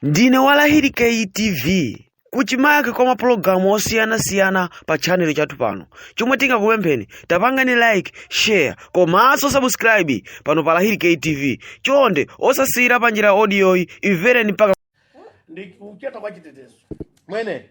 ndinu wa lahiri ktv kuchimake kwa mapulogalamu osiyanasiyana pa chanelo chathu pano chomwe tingakupempheni tapangani like share komanso subscribe pano pa lahiri ktv chonde osasiyira pa njira audioyi imvereni mpaka ndi kucheta kwa chitetezo mwene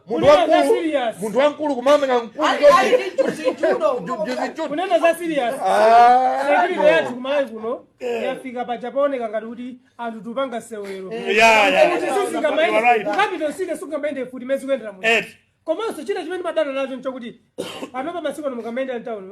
munthu Kunena za wamkulu serious. munthu wamkulu kumamenya mkulu Ali- ali chonchi. ndi chuzi chudo. Ju- ju- ju- ju- kunena za serious Ah, security no. yathu ku Malawi kuno yafika poja pooneka ngati kuti anthu tikupanga sewero Yeah, yeah, yeah. You are sikamaende right. capital city sikamaende futi mezi kuyendera muno Ed. komanso china chimene ndimadana nacho nchokuti panopa masiku ano mukamayenda mtawuni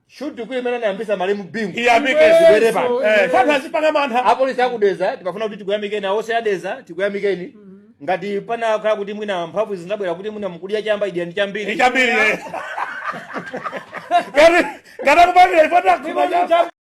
Shoot to kill imene anayambisa malemu Bingu. Iyambike zibwerepo. Eh, afana azipanga mantha. Apolisi aku Dedza tikufuna kuti tikuyamikeni apolisi a Dedza tikuyamikeni. Ngati panakhala kuti mwina mphamvu zinabwera kuti mwina mukudya chamba idyani chambiri. Chambiri. Ngati ngati akupangire ifota kuba chamba.